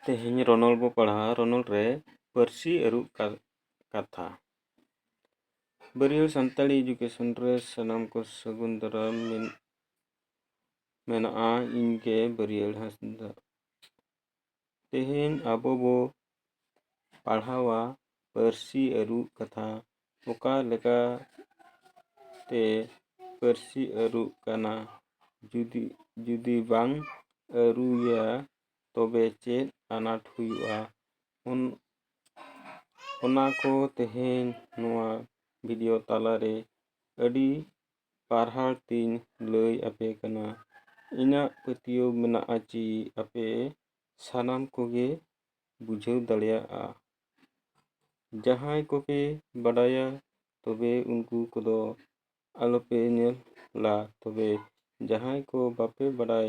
ᱛᱮᱦᱮᱧ ᱨᱚᱱᱚᱞ ᱵᱚ ᱯᱟᱲᱦᱟᱣ ᱨᱚᱱᱚᱞ ᱨᱮ ᱯᱟᱹᱨᱥᱤ ᱟᱹᱨᱩᱵ ᱠᱟᱛᱷᱟ ᱵᱟᱹᱨᱭᱟᱹᱲ ᱥᱟᱱᱛᱟᱲᱤ ᱮᱰᱩᱠᱮᱥᱚᱱ ᱨᱮ ᱥᱟᱱᱟᱢ ᱠᱚ ᱥᱟᱹᱜᱩᱱ ᱫᱟᱨᱟᱢ ᱢᱮᱱᱟᱜᱼᱟ ᱤᱧᱜᱮ ᱵᱟᱹᱨᱭᱟᱹᱲ ᱦᱟᱸᱥᱫᱟ ᱛᱮᱦᱮᱧ ᱟᱵᱚ ᱵᱚ ᱯᱟᱲᱦᱟᱣᱟ ᱯᱟᱹᱨᱥᱤ ᱟᱹᱨᱩ ᱠᱟᱛᱷᱟ ᱚᱠᱟ ᱞᱮᱠᱟ ᱛᱮ ᱯᱟᱹᱨᱥᱤ ᱟᱹᱨᱩᱜ ᱠᱟᱱᱟ ᱡᱩᱫᱤ ᱡᱩᱫᱤ ᱵᱟᱝ ᱟᱹᱨᱩᱭᱟ ᱛᱚᱵᱮ ᱪᱮᱫ ᱟᱱᱟᱴ ᱦᱩᱭᱩᱜᱼᱟ ᱚᱱ ᱚᱱᱟ ᱠᱚ ᱛᱮᱦᱮᱧ ᱱᱚᱣᱟ ᱵᱷᱤᱰᱤᱭᱳ ᱛᱟᱞᱟᱨᱮ ᱟᱹᱰᱤ ᱯᱟᱨᱦᱟᱲ ᱛᱤᱧ ᱞᱟᱹᱭ ᱟᱯᱮ ᱠᱟᱱᱟ ᱤᱧᱟᱹᱜ ᱯᱟᱹᱛᱭᱟᱹᱣ ᱢᱮᱱᱟᱜᱼᱟ ᱪᱤ ᱟᱯᱮ ᱥᱟᱱᱟᱢ ᱠᱚᱜᱮ ᱵᱩᱡᱷᱟᱹᱣ ᱫᱟᱲᱮᱭᱟᱜᱼᱟ ᱡᱟᱦᱟᱸᱭ ᱠᱚᱯᱮ ᱵᱟᱰᱟᱭᱟ ᱛᱚᱵᱮ ᱩᱱᱠᱩ ᱠᱚᱫᱚ ᱟᱞᱚᱯᱮ ᱧᱮᱞᱟ ᱛᱚᱵᱮ ᱡᱟᱦᱟᱸᱭ ᱠᱚ ᱵᱟᱯᱮ ᱵᱟᱰᱟᱭ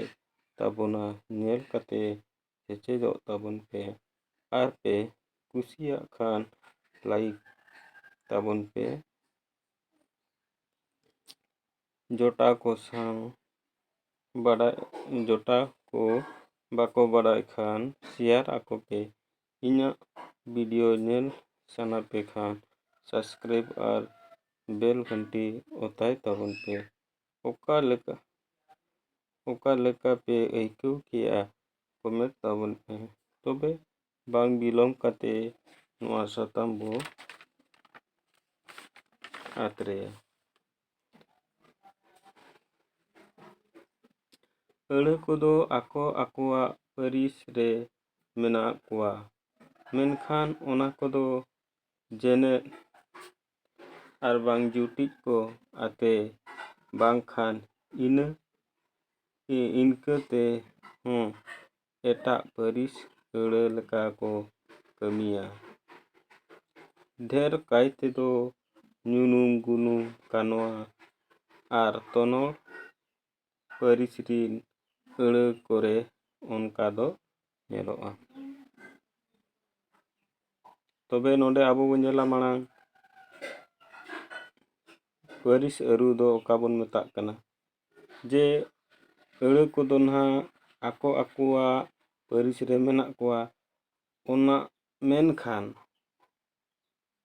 ᱛᱟᱵᱚᱱᱟ ᱧᱮᱞ ᱠᱟᱛᱮ ᱥᱮᱪᱮᱫᱚᱜ ᱛᱟᱵᱚᱱ ᱯᱮ ᱟᱨ ᱯᱮ ᱠᱩᱥᱤᱭᱟᱜ ᱠᱷᱟᱱ ᱞᱟᱭᱤᱠ ᱛᱟᱵᱚᱱ ᱯᱮ ᱡᱚᱴᱟᱣ ᱠᱚ ᱥᱟᱶ ᱵᱟᱰᱟᱭ ᱡᱚᱴᱟᱣ ᱠᱚ ᱵᱟᱠᱚ ᱵᱟᱰᱟᱭ ᱠᱷᱟᱱ ᱥᱮᱭᱟᱨ ᱟᱠᱚ ᱯᱮ ᱤᱧᱟᱹᱜ ᱵᱷᱤᱰᱤᱭᱳ ᱧᱮᱞ ᱥᱟᱱᱟ ᱯᱮ ᱠᱷᱟᱱ ᱥᱟᱵᱥᱠᱨᱟᱭᱤᱵᱽ ᱟᱨ ᱵᱮᱞ ᱜᱷᱟᱱᱴᱤ ᱚᱛᱟᱭ ᱛᱟᱵᱚᱱ ᱯᱮ ᱚᱠᱟ ᱞᱮᱠᱟ ᱚᱠᱟ ᱞᱮᱠᱟ ᱯᱮ ᱟᱹᱭᱠᱟᱹᱣ ᱠᱮᱜᱼᱟ ᱠᱚᱢᱮᱱᱴ ᱛᱟᱵᱚᱱ ᱯᱮ ᱛᱚᱵᱮ ᱵᱟᱝ ᱵᱤᱞᱚᱢ ᱠᱟᱛᱮ ᱱᱚᱣᱟ ᱥᱟᱛᱟᱢ ᱵᱚ ᱟᱛᱨᱮᱭᱟ ᱟᱹᱲᱟᱹ ᱠᱚᱫᱚ ᱟᱠᱚ ᱟᱠᱚᱣᱟᱜ ᱯᱟᱹᱨᱤᱥ ᱨᱮ ᱢᱮᱱᱟᱜ ᱠᱚᱣᱟ ᱢᱮᱱᱠᱷᱟᱱ ᱚᱱᱟ ᱠᱚᱫᱚ ᱡᱮᱱᱮᱫ ᱟᱨ ᱵᱟᱝ ᱡᱩᱴᱤᱡ ᱠᱚ ᱟᱛᱮ ᱵᱟᱝᱠᱷᱟᱱ ᱤᱱᱟᱹ ᱤᱱᱠᱟᱹᱛᱮ ᱦᱚᱸ ᱮᱴᱟᱜ ᱯᱟᱹᱨᱤᱥ ᱟᱹᱲᱟᱹ ᱞᱮᱠᱟ ᱠᱚ ᱠᱟᱹᱢᱤᱭᱟ ᱰᱷᱮᱨ ᱠᱟᱭ ᱛᱮᱫᱚ ᱧᱩᱱᱩᱢ ᱜᱩᱱᱩᱢ ᱠᱟᱱᱣᱟ ᱟᱨ ᱛᱚᱱᱚᱲ ᱯᱟᱹᱨᱤᱥ ᱨᱤᱱ ᱟᱹᱲᱟᱹ ᱠᱚᱨᱮ ᱚᱱᱠᱟ ᱫᱚ ᱧᱮᱞᱚᱜᱼᱟ ᱛᱚᱵᱮ ᱱᱚᱰᱮ ᱟᱵᱚ ᱵᱚᱱ ᱧᱮᱞᱟ ᱢᱟᱲᱟᱝ ᱯᱟᱹᱨᱤᱥ ᱟᱹᱨᱩ ᱫᱚ ᱚᱠᱟ ᱵᱚᱱ ᱢᱮᱛᱟᱜ ᱠᱟᱱᱟ ᱡᱮ ᱟᱹᱲᱟᱹ ᱠᱚᱫᱚ ᱱᱟᱦᱟᱜ ᱟᱠᱚ ᱟᱠᱚᱣᱟᱜ ᱯᱟᱹᱨᱤᱥ ᱨᱮ ᱢᱮᱱᱟᱜ ᱠᱚᱣᱟ ᱚᱱᱟ ᱢᱮᱱᱠᱷᱟᱱ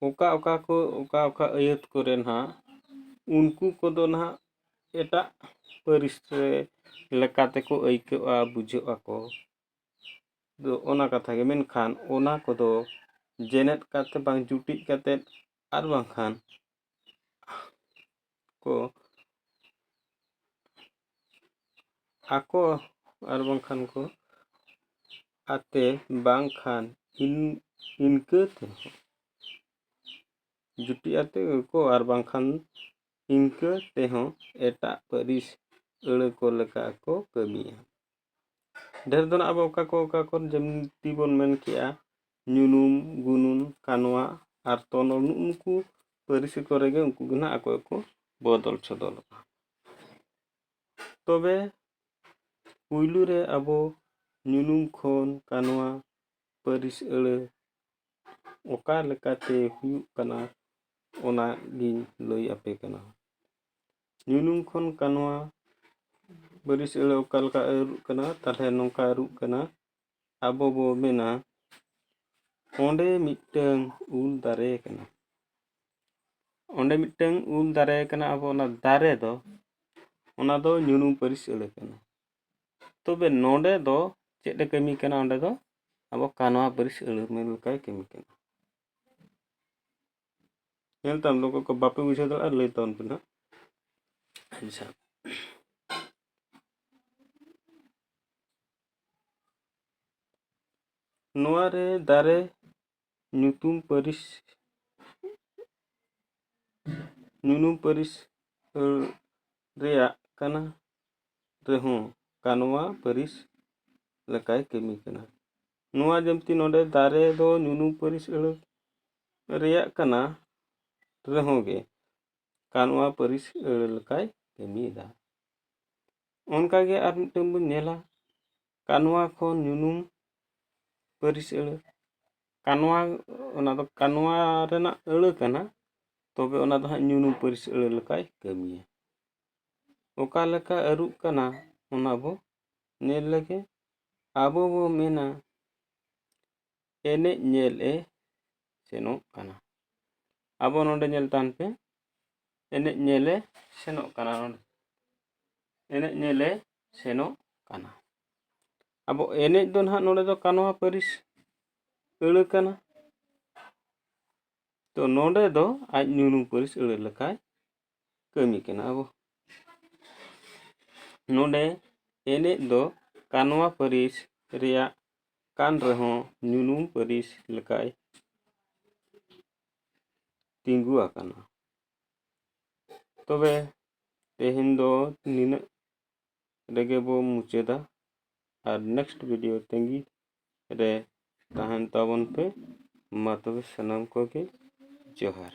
ᱚᱠᱟ ᱚᱠᱟ ᱠᱚ ᱚᱠᱟ ᱚᱠᱟ ᱟᱹᱭᱟᱹᱛ ᱠᱚᱨᱮ ᱱᱟᱦᱟᱜ ᱩᱱᱠᱩ ᱠᱚᱫᱚ ᱱᱟᱦᱟᱜ ᱮᱴᱟᱜ ᱯᱟᱹᱨᱤᱥ ᱨᱮ ᱞᱮᱠᱟ ᱛᱮᱠᱚ ᱟᱹᱭᱠᱟᱹᱜᱼᱟ ᱵᱩᱡᱷᱟᱹᱜ ᱟᱠᱚ ᱫᱚ ᱚᱱᱟ ᱠᱟᱛᱷᱟ ᱜᱮ ᱢᱮᱱᱠᱷᱟᱱ ᱚᱱᱟ ᱠᱚᱫᱚ ᱡᱮᱱᱮᱛ ᱠᱟᱛᱮᱫ ᱵᱟᱝ ᱡᱩᱴᱤᱡ ᱠᱟᱛᱮᱫ ᱟᱨ ᱵᱟᱝᱠᱷᱟᱱ ᱠᱚ ᱟᱠᱚ ᱟᱨ ᱵᱟᱝᱠᱷᱟᱱ ᱠᱚ ᱟᱛᱮ ᱵᱟᱝᱠᱷᱟᱱ ᱤᱱ ᱤᱱᱠᱟᱹ ᱛᱮᱦᱚᱸ ᱡᱩᱴᱤ ᱟᱛᱮ ᱠᱚ ᱟᱨ ᱵᱟᱝᱠᱷᱟᱱ ᱤᱱᱠᱟᱹ ᱛᱮᱦᱚᱸ ᱮᱴᱟᱜ ᱯᱟᱹᱨᱤᱥ ᱟᱹᱲᱟᱹ ᱠᱚ ᱞᱮᱠᱟ ᱠᱚ ᱠᱟᱹᱢᱤᱭᱟ ᱰᱷᱮᱨ ᱫᱚ ᱱᱟᱜ ᱟᱵᱚ ᱚᱠᱟ ᱠᱚ ᱚᱠᱟ ᱠᱚ ᱡᱮᱢᱛᱤ ᱵᱚᱱ ᱢᱮᱱ ᱠᱮᱜᱼᱟ ᱧᱩᱱᱩᱢ ᱜᱩᱱᱩᱢ ᱠᱟᱱᱣᱟ ᱟᱨ ᱛᱚᱱᱚᱞ ᱱᱩᱜᱼᱩ ᱱᱩᱠᱩ ᱯᱟᱹᱨᱥᱤ ᱠᱚᱨᱮ ᱜᱮ ᱩᱱᱠᱩ ᱜᱮ ᱱᱟᱜ ᱟᱠᱚ ᱜᱮᱠᱚ ᱵᱚᱫᱚᱞ ᱥᱚᱫᱚᱞᱚᱜᱼᱟ ᱛᱚᱵᱮ ᱯᱩᱭᱞᱩ ᱨᱮ ᱟᱵᱚ ᱧᱩᱱᱩᱢ ᱠᱷᱚᱱ ᱠᱟᱱᱣᱟ ᱯᱟᱹᱨᱤᱥ ᱟᱹᱲᱟᱹ ᱚᱠᱟ ᱞᱮᱠᱟᱛᱮ ᱦᱩᱭᱩᱜ ᱠᱟᱱᱟ ᱚᱱᱟᱜᱤᱧ ᱞᱟᱹᱭ ᱟᱯᱮ ᱠᱟᱱᱟ ᱧᱩᱱᱩᱢ ᱠᱷᱚᱱ ᱠᱟᱱᱣᱟ ᱵᱟᱹᱨᱤᱥ ᱟᱹᱲᱟᱹ ᱚᱠᱟ ᱞᱮᱠᱟ ᱟᱹᱨᱩᱜ ᱠᱟᱱᱟ ᱛᱟᱦᱚᱞᱮ ᱱᱚᱝᱠᱟ ᱟᱹᱨᱩᱜ ᱠᱟᱱᱟ ᱟᱵᱚ ᱵᱚ ᱢᱮᱱᱟ ᱚᱸᱰᱮ ᱢᱤᱫᱴᱟᱹᱝ ᱩᱞ ᱫᱟᱨᱮ ᱠᱟᱱᱟ ᱚᱸᱰᱮ ᱢᱤᱫᱴᱟᱹᱝ ᱩᱞ ᱫᱟᱨᱮ ᱠᱟᱱᱟ ᱟᱵᱚ ᱚᱱᱟ ᱫᱟᱨᱮ ᱫᱚ ᱚᱱᱟ ᱫᱚ ᱧᱩᱱᱩᱢ ᱯᱟᱹᱨᱤᱥ ᱟᱹᱲᱟᱹ ᱠᱟᱱᱟ ᱛᱚᱵᱮ ᱱᱚᱸᱰᱮ ᱫᱚ ᱪᱮᱫ ᱮ ᱠᱟᱹᱢᱤ ᱠᱟᱱᱟ ᱚᱸᱰᱮ ᱫᱚ ᱟᱵᱚ ᱠᱟᱱᱣᱟ ᱯᱟᱹᱨᱤᱥ ᱟᱹᱲᱟᱹ ᱢᱮᱱ ᱞᱮᱠᱟᱭ ᱠᱟᱹᱢᱤ ᱠᱟᱱᱟ ᱧᱮᱞ ᱛᱟᱢ ᱚᱠᱚᱭ ᱠᱚ ᱵᱟᱯᱮ ᱵᱩᱡᱷᱟᱹᱣ ᱫᱟᱲᱮᱭᱟᱜᱼᱟ ᱞᱟᱹᱭ ᱛᱟᱵᱚᱱ ᱯᱮ ᱱᱟᱜ ᱟᱪᱪᱷᱟ ᱱᱚᱣᱟ ᱨᱮ ᱫᱟᱨᱮ ᱧᱩᱛᱩᱢ ᱯᱟᱹᱨᱤᱥ ᱧᱩᱱᱩᱢ ᱯᱟᱹᱨᱤᱥ ᱨᱮᱭᱟᱜ ᱠᱟᱱᱟ ᱨᱮᱦᱚᱸ ᱠᱟᱱᱣᱟ ᱯᱟᱹᱨᱤᱥ ᱞᱮᱠᱟᱭ ᱠᱟᱹᱢᱤ ᱠᱟᱱᱟ ᱱᱚᱣᱟ ᱡᱮᱢᱛᱤ ᱱᱚᱰᱮ ᱫᱟᱨᱮ ᱫᱚ ᱧᱩᱱᱩ ᱯᱟᱹᱨᱤᱥ ᱟᱹᱲᱟᱹ ᱨᱮᱭᱟᱜ ᱠᱟᱱᱟ ᱨᱮᱦᱚᱸ ᱜᱮ ᱠᱟᱱᱣᱟ ᱯᱟᱹᱨᱤᱥ ᱟᱹᱲᱟᱹ ᱞᱮᱠᱟᱭ ᱠᱟᱹᱢᱤᱭᱮᱫᱟ ᱚᱱᱠᱟ ᱜᱮ ᱟᱨ ᱢᱤᱫᱴᱟᱹᱝ ᱵᱚᱱ ᱧᱮᱞᱟ ᱠᱟᱱᱣᱟ ᱠᱷᱚᱱ ᱧᱩᱱᱩᱢ ᱯᱟᱹᱨᱤᱥ ᱟᱹᱲᱟᱹ ᱠᱟᱱᱣᱟ ᱚᱱᱟ ᱫᱚ ᱠᱟᱱᱣᱟ ᱨᱮᱱᱟᱜ ᱟᱹᱲᱟᱹ ᱠᱟᱱᱟ ᱛᱚᱵᱮ ᱚᱱᱟ ᱫᱚ ᱦᱟᱸᱜ ᱧᱩᱱᱩᱢ ᱯᱟᱹᱨᱤᱥ ᱟᱹᱲᱟᱹ ᱞᱮᱠᱟᱭ ᱠᱟᱹᱢᱤᱭᱟ ᱚᱠᱟ ᱞᱮᱠᱟ ᱟᱹᱨᱩᱜ ᱠᱟᱱᱟ ᱚᱱᱟ ᱵᱚ ᱧᱮᱞ ᱞᱮᱜᱮ ᱟᱵᱚ ᱵᱚ ᱢᱮᱱᱟ ᱮᱱᱮᱡ ᱧᱮᱞ ᱮ ᱥᱮᱱᱚᱜ ᱠᱟᱱᱟ ᱟᱵᱚ ᱱᱚᱰᱮ ᱧᱮᱞ ᱛᱟᱦᱮᱱ ᱯᱮ ᱮᱱᱮᱡ ᱧᱮᱞ ᱮ ᱥᱮᱱᱚᱜ ᱠᱟᱱᱟ ᱱᱚᱰᱮ ᱮᱱᱮᱡ ᱧᱮᱞ ᱮ ᱥᱮᱱᱚᱜ ᱠᱟᱱᱟ ᱟᱵᱚ ᱮᱱᱮᱡ ᱫᱚ ᱱᱟᱦᱟᱜ ᱱᱚᱰᱮ ᱫᱚ ᱠᱟᱱᱣᱟ ᱯᱟᱹᱨᱤᱥ ᱟᱹᱲᱟᱹ ᱠᱟᱱᱟ ᱛᱚ ᱱᱚᱰᱮ ᱫᱚ ᱟᱡ ᱧᱩᱱᱩ ᱯᱟᱹᱨᱤᱥ ᱟᱹᱲᱟᱹ ᱞᱮᱠᱟᱭ ᱠᱟᱹᱢᱤ ᱠᱟᱱᱟ ᱟᱵᱚ ᱱᱚᱰᱮ ᱮᱱᱮᱡ ᱫᱚ ᱠᱟᱱᱣᱟ ᱯᱟᱹᱨᱤᱥ ᱨᱮᱭᱟᱜ ᱠᱟᱱ ᱨᱮᱦᱚᱸ ᱧᱩᱱᱩᱢ ᱯᱟᱹᱨᱤᱥ ᱞᱮᱠᱟᱭ ᱛᱤᱸᱜᱩ ᱟᱠᱟᱱᱟ ᱛᱚᱵᱮ ᱛᱮᱦᱮᱧ ᱫᱚ ᱱᱤᱱᱟᱹᱜ ᱨᱮᱜᱮ ᱵᱚ ᱢᱩᱪᱟᱹᱫᱟ ᱟᱨ ᱱᱮᱠᱥᱴ ᱵᱷᱤᱰᱤᱭᱳ ᱛᱟᱹᱜᱤ ᱨᱮ ᱛᱟᱦᱮᱱ ᱛᱟᱵᱚᱱ ᱯᱮ ᱢᱟ ᱛᱚᱵᱮ ᱥᱟᱱᱟᱢ ᱠᱚᱜᱮ ᱡᱚᱦᱟᱨ